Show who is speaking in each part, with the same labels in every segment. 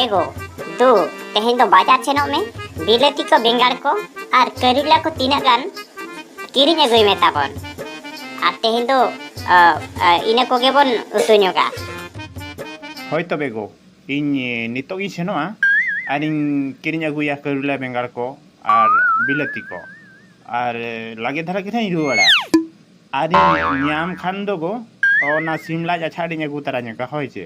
Speaker 1: ᱮᱜᱳ ᱫᱩ ᱛᱮᱦᱮᱧ ᱫᱚ ᱵᱟᱡᱟᱨ ᱥᱮᱱᱚᱜ ᱢᱮ ᱵᱤᱞᱟᱹᱛᱤ ᱠᱚ ᱵᱮᱸᱜᱟᱲ ᱠᱚ ᱟᱨ ᱠᱟᱹᱨᱤᱞᱟ ᱠᱚ ᱛᱤᱱᱟᱹᱜ ᱜᱟᱱ ᱠᱤᱨᱤᱧ ᱟᱹᱜᱩᱭ ᱢᱮ ᱛᱟᱵᱚᱱ ᱟᱨ ᱛᱮᱦᱮᱧ ᱫᱚ ᱤᱱᱟᱹ ᱠᱚᱜᱮ ᱵᱚᱱ ᱩᱛᱩ ᱧᱚᱜᱟ
Speaker 2: ᱦᱳᱭ ᱛᱚᱵᱮ ᱜᱳ ᱤᱧ ᱱᱤᱛᱚᱜ ᱤᱧ ᱥᱮᱱᱚᱜᱼᱟ ᱟᱨᱤᱧ ᱠᱤᱨᱤᱧ ᱟᱹᱜᱩᱭᱟ ᱠᱟᱹᱨᱤᱞᱟ ᱵᱮᱸᱜᱟᱲ ᱠᱚ ᱟᱨ ᱵᱤᱞᱟᱹᱛᱤ ᱠᱚ ᱟᱨ ᱞᱟᱜᱮ ᱫᱷᱟᱨᱟ ᱜᱮ ᱱᱟᱦᱟᱜ ᱤᱧ ᱨᱩᱣᱟᱹᱲᱟ ᱟᱨᱤᱧ ᱧᱟᱢ ᱠᱷᱟᱱ ᱫᱚ ᱜᱳ ᱚᱱᱟ ᱥᱤᱢ ᱞᱟᱡ ᱟᱪᱷᱟ ᱟᱹᱰᱤᱧ ᱟᱹᱜᱩ ᱛᱟᱨᱟ ᱧᱚᱜᱟ ᱦᱳᱭ ᱪᱮ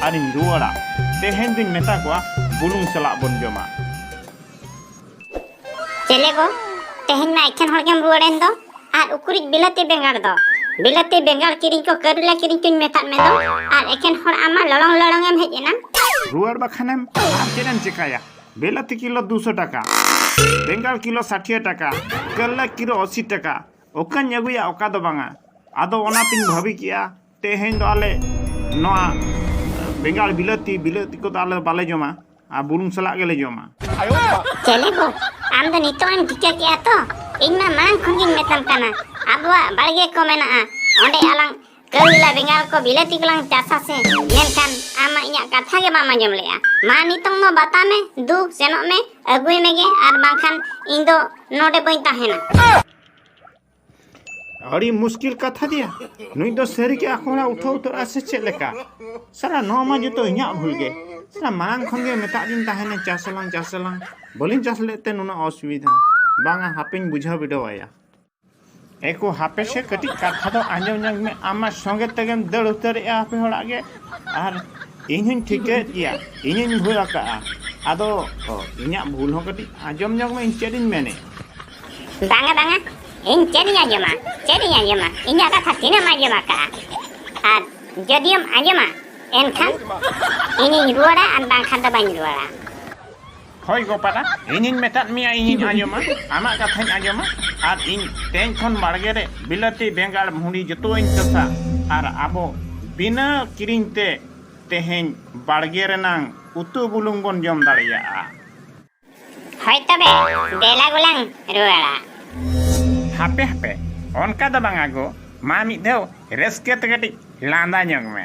Speaker 2: ᱟᱨᱤᱧ ᱨᱩᱣᱟᱹᱲᱟ ᱛᱮᱦᱮᱧ ᱫᱩᱧ ᱢᱮᱛᱟ ᱠᱚᱣᱟ ᱵᱩᱞᱩᱝ ᱥᱟᱞᱟᱜ ᱵᱚᱱ ᱡᱚᱢᱟ
Speaker 1: ᱪᱮᱞᱮ ᱠᱚ ᱛᱮᱦᱮᱧ ᱢᱟ ᱮᱠᱷᱮᱱ ᱦᱚᱲ ᱜᱮᱢ ᱨᱩᱣᱟᱹᱲᱮᱱ ᱫᱚ ᱟᱨ ᱩᱠᱩᱨᱤᱡ ᱵᱤᱞᱟᱹᱛᱤ ᱵᱮᱸᱜᱟᱲ ᱫᱚ ᱵᱤᱞᱟᱹᱛᱤ ᱵᱮᱸᱜᱟᱲ ᱠᱤᱨᱤᱧ ᱠᱚ ᱠᱟᱹᱨᱩᱞᱟ ᱠᱤᱨᱤᱧ ᱠᱚᱧ ᱢᱮᱛᱟᱫ ᱢᱮ ᱫᱚ ᱟᱨ ᱮᱠᱷᱮᱱ ᱦᱚᱲ ᱟᱢ ᱢᱟ ᱞᱚᱲᱚᱝ ᱞᱚᱲᱚᱝ ᱮᱢ ᱦᱮᱡ ᱮᱱᱟ ᱨᱩᱣᱟᱹᱲ ᱵᱟᱠᱷᱟᱱᱮᱢ
Speaker 2: ᱟᱨ ᱪᱮᱫ ᱮᱢ ᱪᱮᱠᱟᱭᱟ ᱵᱤᱞᱟᱹᱛᱤ ᱠᱤᱞᱳ ᱫᱩᱥᱚ ᱴᱟᱠᱟ ᱵᱮᱸᱜᱟᱲ ᱠᱤᱞᱳ ᱥᱟᱴᱷᱤᱭᱟᱹ ᱴᱟᱠᱟ ᱠᱟᱹᱨᱞᱟᱹ ᱠᱤᱞᱳ ᱟᱥᱤ ᱴᱟᱠᱟ ᱚᱠᱟᱧ ᱟᱹᱜᱩᱭᱟ ᱚᱠᱟ ᱫᱚ ᱵᱟᱝᱟ ᱟᱫᱚ ᱚᱱᱟᱛᱤᱧ ᱵᱷᱟᱹᱵᱤ ᱠᱮᱜᱼᱟ ᱛᱮᱦᱮᱧ ᱫᱚ ᱟᱞᱮ ᱱᱚᱣᱟ ᱵᱮᱸᱜᱟᱲ ᱵᱤᱞᱟᱹᱛᱤ ᱵᱤᱞᱟᱹᱛᱤ ᱠᱚᱫᱚ ᱟᱞᱮ ᱵᱟᱞᱮ ᱡᱚᱢᱟ ᱟᱨ ᱵᱩᱞᱩᱝ ᱥᱟᱞᱟᱜ ᱜᱮᱞᱮ ᱡᱚᱢᱟ ᱪᱮᱞᱮ
Speaker 1: ᱵᱚ ᱟᱢ ᱫᱚ ᱱᱤᱛᱚᱜ ᱮᱢ ᱴᱷᱤᱠᱟᱹ ᱠᱮᱜᱼᱟ ᱛᱚ ᱤᱧ ᱢᱟ ᱢᱟᱲᱟᱝ ᱠᱷᱚᱱ ᱜᱤᱧ ᱢᱮᱛᱟᱢ ᱠᱟᱱᱟ ᱟᱵᱚᱣᱟᱜ ᱵᱟᱲᱜᱮ ᱠᱚ ᱢᱮᱱᱟᱜᱼᱟ ᱚᱸᱰᱮ ᱟᱞᱟᱝ ᱠᱟᱹᱣᱞᱟ ᱵᱮᱸᱜᱟᱲ ᱠᱚ ᱵᱤᱞᱟᱹᱛᱤ ᱠᱚᱞᱟᱝ ᱪᱟᱥᱟ ᱥᱮ ᱢᱮᱱᱠᱷᱟᱱ ᱟᱢ ᱢᱟ ᱤᱧᱟᱹᱜ ᱠᱟᱛᱷᱟ ᱜᱮ ᱵᱟᱢ ᱟᱸᱡᱚᱢ ᱞᱮᱜᱼᱟ ᱢᱟ ᱱᱤᱛᱚᱝ ᱫᱚ ᱵᱟᱛᱟ ᱢᱮ ᱫᱩ ᱥᱮᱱᱚᱜ ᱢᱮ ᱟᱹᱜᱩᱭ ᱢᱮᱜᱮ ᱟᱨ ᱵᱟᱝᱠᱷᱟᱱ ᱤᱧ ᱫᱚ ᱱᱚᱰᱮ ᱵᱟᱹᱧ ᱛᱟᱦᱮᱱᱟ
Speaker 2: ᱟᱹᱰᱤ ᱢᱩᱥᱠᱤᱞ ᱠᱟᱛᱷᱟ ᱜᱮᱭᱟ ᱱᱩᱭ ᱫᱚ ᱥᱟᱹᱨᱤ ᱜᱮ ᱟᱠᱚ ᱦᱚᱲᱟᱜ ᱩᱴᱷᱟᱹᱣ ᱩᱛᱟᱹᱨᱚᱜᱼᱟ ᱥᱮ ᱪᱮᱫ ᱞᱮᱠᱟ ᱥᱟᱨᱟ ᱱᱚᱣᱟ ᱢᱟ ᱡᱚᱛᱚ ᱤᱧᱟᱹᱜ ᱵᱷᱩᱞ ᱜᱮ ᱥᱟᱨᱟ ᱢᱟᱲᱟᱝ ᱠᱷᱚᱱ ᱜᱮ ᱢᱮᱛᱟᱜ ᱫᱤᱧ ᱛᱟᱦᱮᱱᱟ ᱪᱟᱥ ᱟᱞᱟᱝ ᱪᱟᱥ ᱟᱞᱟᱝ ᱵᱟᱹᱞᱤᱧ ᱪᱟᱥ ᱞᱮᱫ ᱛᱮ ᱱᱩᱱᱟᱹᱜ ᱚᱥᱩᱵᱤᱫᱷᱟ ᱵᱟᱝᱟ ᱦᱟᱯᱮᱧ ᱵᱩᱡᱷᱟᱹᱣ ᱵᱤᱰᱟᱹᱣ ᱟᱭᱟ ᱮᱠᱚ ᱦᱟᱯᱮ ᱥᱮ ᱠᱟᱹᱴᱤᱡ ᱠᱟᱛᱷᱟ ᱫᱚ ᱟᱸᱡᱚᱢ ᱧᱚᱜ ᱢᱮ ᱟᱢᱟᱜ ᱥᱚᱸᱜᱮ ᱛᱮᱜᱮᱢ ᱫᱟᱹᱲ ᱩᱛᱟᱹᱨᱮᱜᱼᱟ ᱟᱯᱮ ᱦᱚᱲᱟᱜ ᱜᱮ ᱟᱨ ᱤᱧ ᱦᱚᱧ ᱴᱷᱤᱠᱟᱹᱭᱮᱫ ᱜᱮᱭᱟ ᱤᱧ ᱦᱚᱧ ᱵᱷᱩᱞ ᱟᱠᱟᱜᱼᱟ ᱟᱫᱚ ᱤᱧᱟᱹᱜ ᱵᱷᱩᱞ ᱦᱚᱸ ᱠᱟᱹᱴᱤᱡ ᱟᱸᱡᱚᱢ ᱧᱚᱜ ᱢᱮ ᱤᱧ ᱪᱮᱫ ᱤᱧ ᱢᱮᱱᱮᱫ ᱵᱟᱝᱟ
Speaker 1: ᱵᱟᱝᱟ ᱤᱧ ᱪᱮᱫ ᱤᱧ ᱟᱸᱡᱚᱢᱟ ᱪᱮᱫ ᱤᱧ ᱟᱸᱡᱚᱢᱟ ᱤᱧᱟᱹᱜ ᱠᱟᱛᱷᱟ ᱛᱤᱱᱟᱹᱜ ᱮᱢ ᱟᱸᱡᱚᱢ ᱟᱠᱟᱫᱼᱟ ᱟᱨ ᱡᱚᱫᱤᱢ ᱟᱸᱡᱚᱢᱟ ᱮᱱᱠᱷᱟᱱ ᱤᱧᱤᱧ ᱨᱩᱣᱟᱹᱲᱟ ᱟᱨ ᱵᱟᱝᱠᱷᱟᱱ ᱫᱚ ᱵᱟᱹᱧ ᱨᱩᱣᱟᱹᱲᱟ ᱦᱳᱭ
Speaker 2: ᱜᱳᱯᱟᱞᱟ ᱤᱧᱤᱧ ᱢᱮᱛᱟᱫ ᱢᱮᱭᱟ ᱤᱧᱤᱧ ᱟᱸᱡᱚᱢᱟ ᱟᱢᱟᱜ ᱠᱟᱛᱷᱟᱧ ᱟᱸᱡᱚᱢᱟ ᱟᱨ ᱤᱧ ᱛᱮᱦᱮᱧ ᱠᱷᱚᱱ ᱵᱟᱲᱜᱮ ᱨᱮ ᱵᱤᱞᱟᱹᱛᱤ ᱵᱮᱸᱜᱟᱲ ᱵᱷᱩᱸᱰᱤ ᱡᱚᱛᱚᱣᱟᱹᱧ ᱪᱟᱥᱟ ᱟᱨ ᱟᱵᱚ ᱵᱤᱱᱟᱹ ᱠᱤᱨᱤᱧ ᱛᱮ ᱛᱮᱦᱮᱧ ᱵᱟᱲᱜᱮ ᱨᱮᱱᱟᱝ ᱩᱛᱩ ᱵᱩᱞᱩᱝ ᱵᱚᱱ ᱡᱚᱢ ᱫᱟᱲᱮᱭᱟᱜᱼᱟ
Speaker 1: ᱦᱳᱭ ᱛᱚᱵᱮ ᱫᱮᱞᱟ ᱜᱚᱞᱟᱝ ᱨᱩᱣᱟᱹᱲᱟ
Speaker 2: ᱦᱟᱯᱮ ᱦᱟᱯᱮ ᱚᱱᱠᱟ ᱫᱚ ᱵᱟᱝᱟ ᱜᱚ ᱢᱟ ᱢᱤᱫ ᱫᱷᱟᱣ ᱨᱟᱹᱥᱠᱟᱹ ᱛᱮ ᱠᱟᱹᱴᱤᱡ ᱞᱟᱸᱫᱟ ᱧᱚᱜ ᱢᱮ